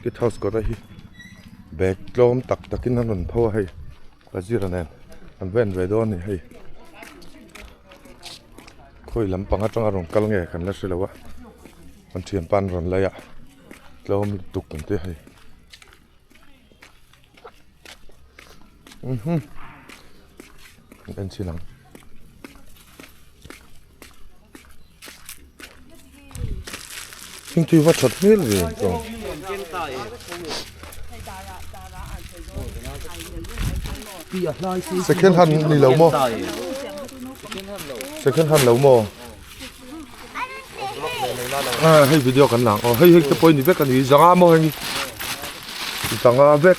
Guest house kawta hi bag tlawm tak takin an rawn pho a hei ka zira nen an va en ve dawn a ni hei khawi lampang atang a rawn kal nge kan la hre lo a an thiam pa an rawn lei a tlawm lutuk kan tia hei umhhmm an en chin ang. Thingpui va that hmel ve ang chuan. Second hand ni lo maw? Second hand lo maw? Ah, hei video kan lang. Oh, hei hei te pawh ni vek a ni. Zanga maw hei? Zanga vek.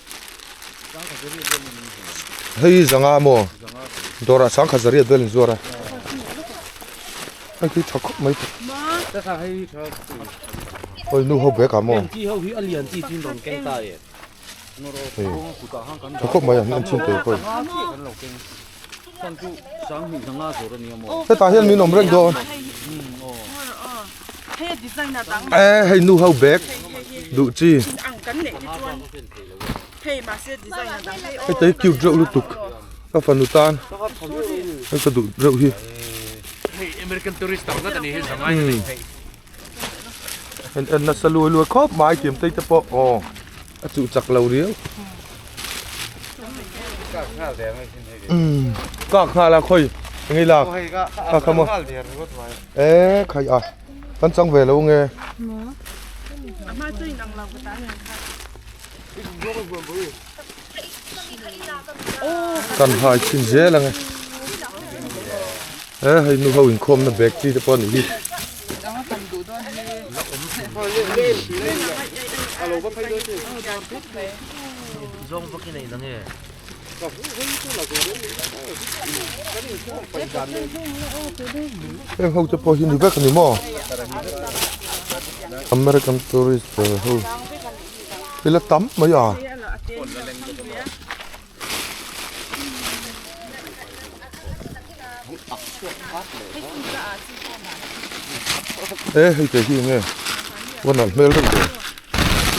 Hei hi zanga a maw? Dawrah sang khat zariat vel in zuar a. Hei khi tha khawp mai. Hoi nu ho bag ah maw? Tha khawp mai a, an chhun teh khawih. Hetah hian min awm reng dawn. Eh hei nu ho bag duh chi. Hetei cute reuh lutuk ka fanu tan ka duh reuh hi. en en nasa luai luai khawp mai kiam te pawh aw a chu chak lo riau kak nghal a khawi engei la kha kha maw e khai a kan chang ve lo nge kan hai thin zel ang e he hei nu ho inkhawmna bag chi te pawh a nih hi zawng vak in a inang e heng ho te pawh hinu vek a ni maw American tourist ho Ila tam mai a. E hei te hi nge. Wan al hmel reng te.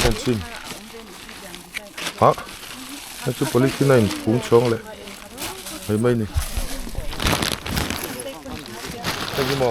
Kan chin. Ha. Hei chu policy nine phung chhawng le. Hei mai ni. Hei hi mo.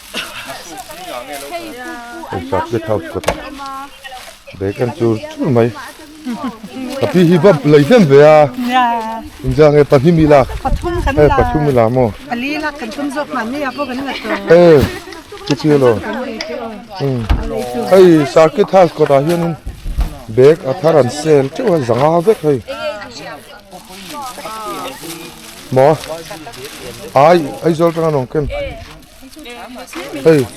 Hei sa state house kawtah bacon chu chul mai a pi hi bawmp lei hlem ve a inzia nge pahnih mi lak pathum kan la pathum i la maw pali lak kan tum zawk nghah mai ah pawh kan la tawh e chu chu lo hei circuit house kawtah hian in bag a thar an sell teuh a zanga vek hei maw ai aizawl tang an awm kem Hei,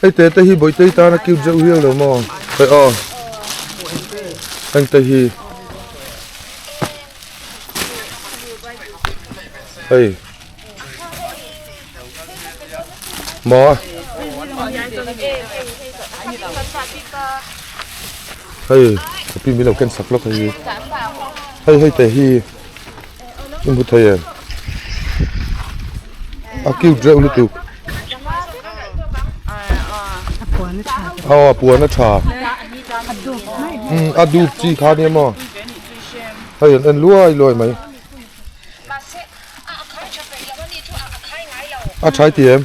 hei te te hi bawitei tan a cute zeuh hial lo maw? Hei aw. Heng te hi. Hei. Maw. Hei, a pi mi lo ken sak lawk a hi. Hei hei te hi. I hmu thei em? A cute reuh lutuk. Aw, a puan a tha. Hmm, a dup chi kha nia maw? Hei an en luai luai mai. A thai ti em?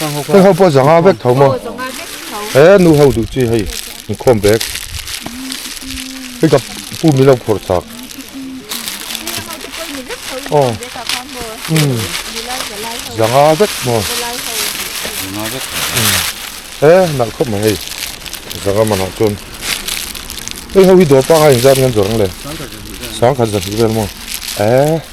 Hei ho pawh zanga vek tho maw? He nu ho duh chi hei in khawm bek. Hei ka pu mi lo khawr chak. Oh. Hmm. Zanga vek maw? Zanga vek. He nal khawp mai hei. Zanga mana chuan. Hei ho hi dawr panga in zat ngan zawrang le. Sangkhat zahnih vel maw? Eh.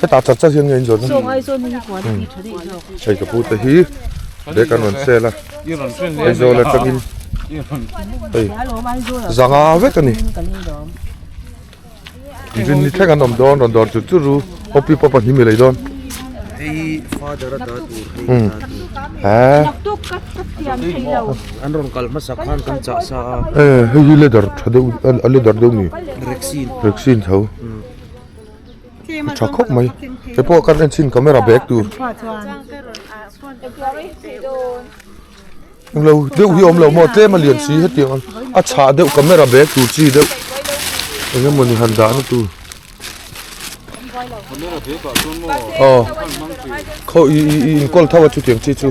Hetah chak chak hian nge inzawn a? Zawng Aizawl hi puan a ti tha daih zawk. Hei ka pu te hi bag an rawn sell a, Aizawl atangin hei zanga vek a ni. Zin ni thleng an awm dawn rawn dawr chut chut ru, hopi pawpa hni milei dawn. Hei father a dah tur hei a dah tur. Hah? An rawn kal hmasa khan kan chah sa a. Hei hi leather tha deuh a leather deuh ni. Rexin. Rexin tho. a tha khawp mai keipoa ka en chhin camera bag tur englo deuh hi a awm lo maw tlem a lian si hetiang a a chhah deuh camera bag tur chi deuh eng emawni han dahna tur aw kho i i i inkawl tho a chutiang chi chu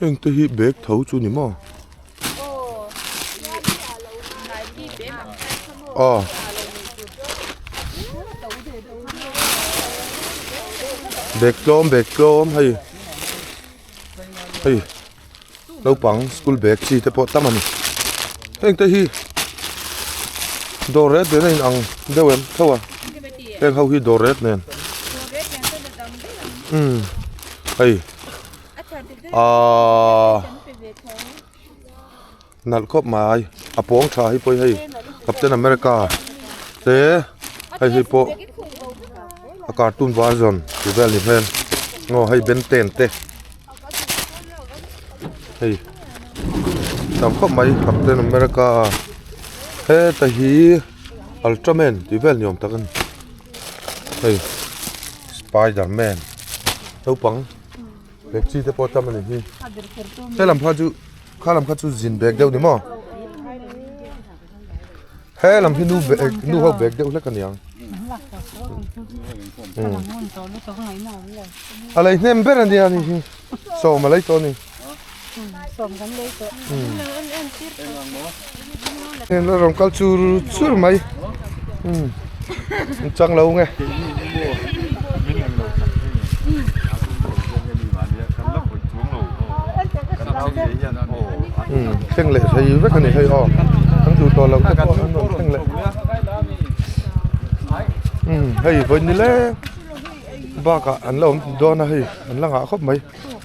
Heng te hi bag tho chu ni maw? Aw. Bag tlawm bag tlawm hei. Hei. Naupang school bag chi te pawh tam a ni. Heng te hi dawr rêt rêt a inang deuh em tho a. Heng ho hi dawr rêt nen. Umm hei. Aaa nalh khawp mai a pawng tha hi pawh hei captain america te hei hi pawh a cartoon version tih vel ni hmel aw hei ben ten te hei tam khawp mai captain america heta hi ultra man tih vel ni awm tak a ni hei spider man naupang-- bag chi te pawh tam ani hi he lam kha chu kha lam kha chu zin bag deuh ni maw he lam hi nu bag nu ho bag deuh hlek aniang alai hnem ber ania ni hi so malai to ni Heng a rawn kal chur chur mai a chang lo nge heng leh thei vek a ni hei aw kan duh tawh loh te pawh an rawn heng leh hei vawi ni leng bakah an lo awm dawn a hei an la ngah khawp mai.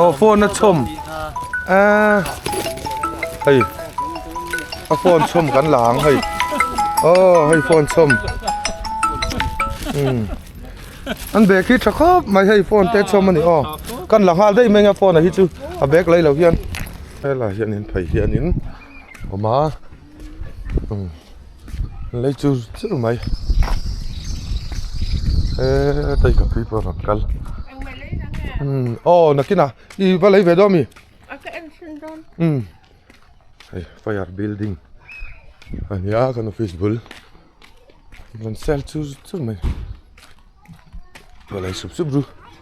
Aw phone a chhawm aaa hei a phone chhawm kan la ang hei aw hei phone chhawm umm an bag hi tha khawp mai hei phone te chhawm a ni aw kan la nghal daih mai anga phone a hi chu a bag lailo hian helai hianin phei hianin a awm a. lei chu zir mai he taika phei pawh a rawn kal aw nakina i va lei ve dawn ami hei fire building a ni a kan office bul a rawn sel chu zir mai a lei sup sup ru.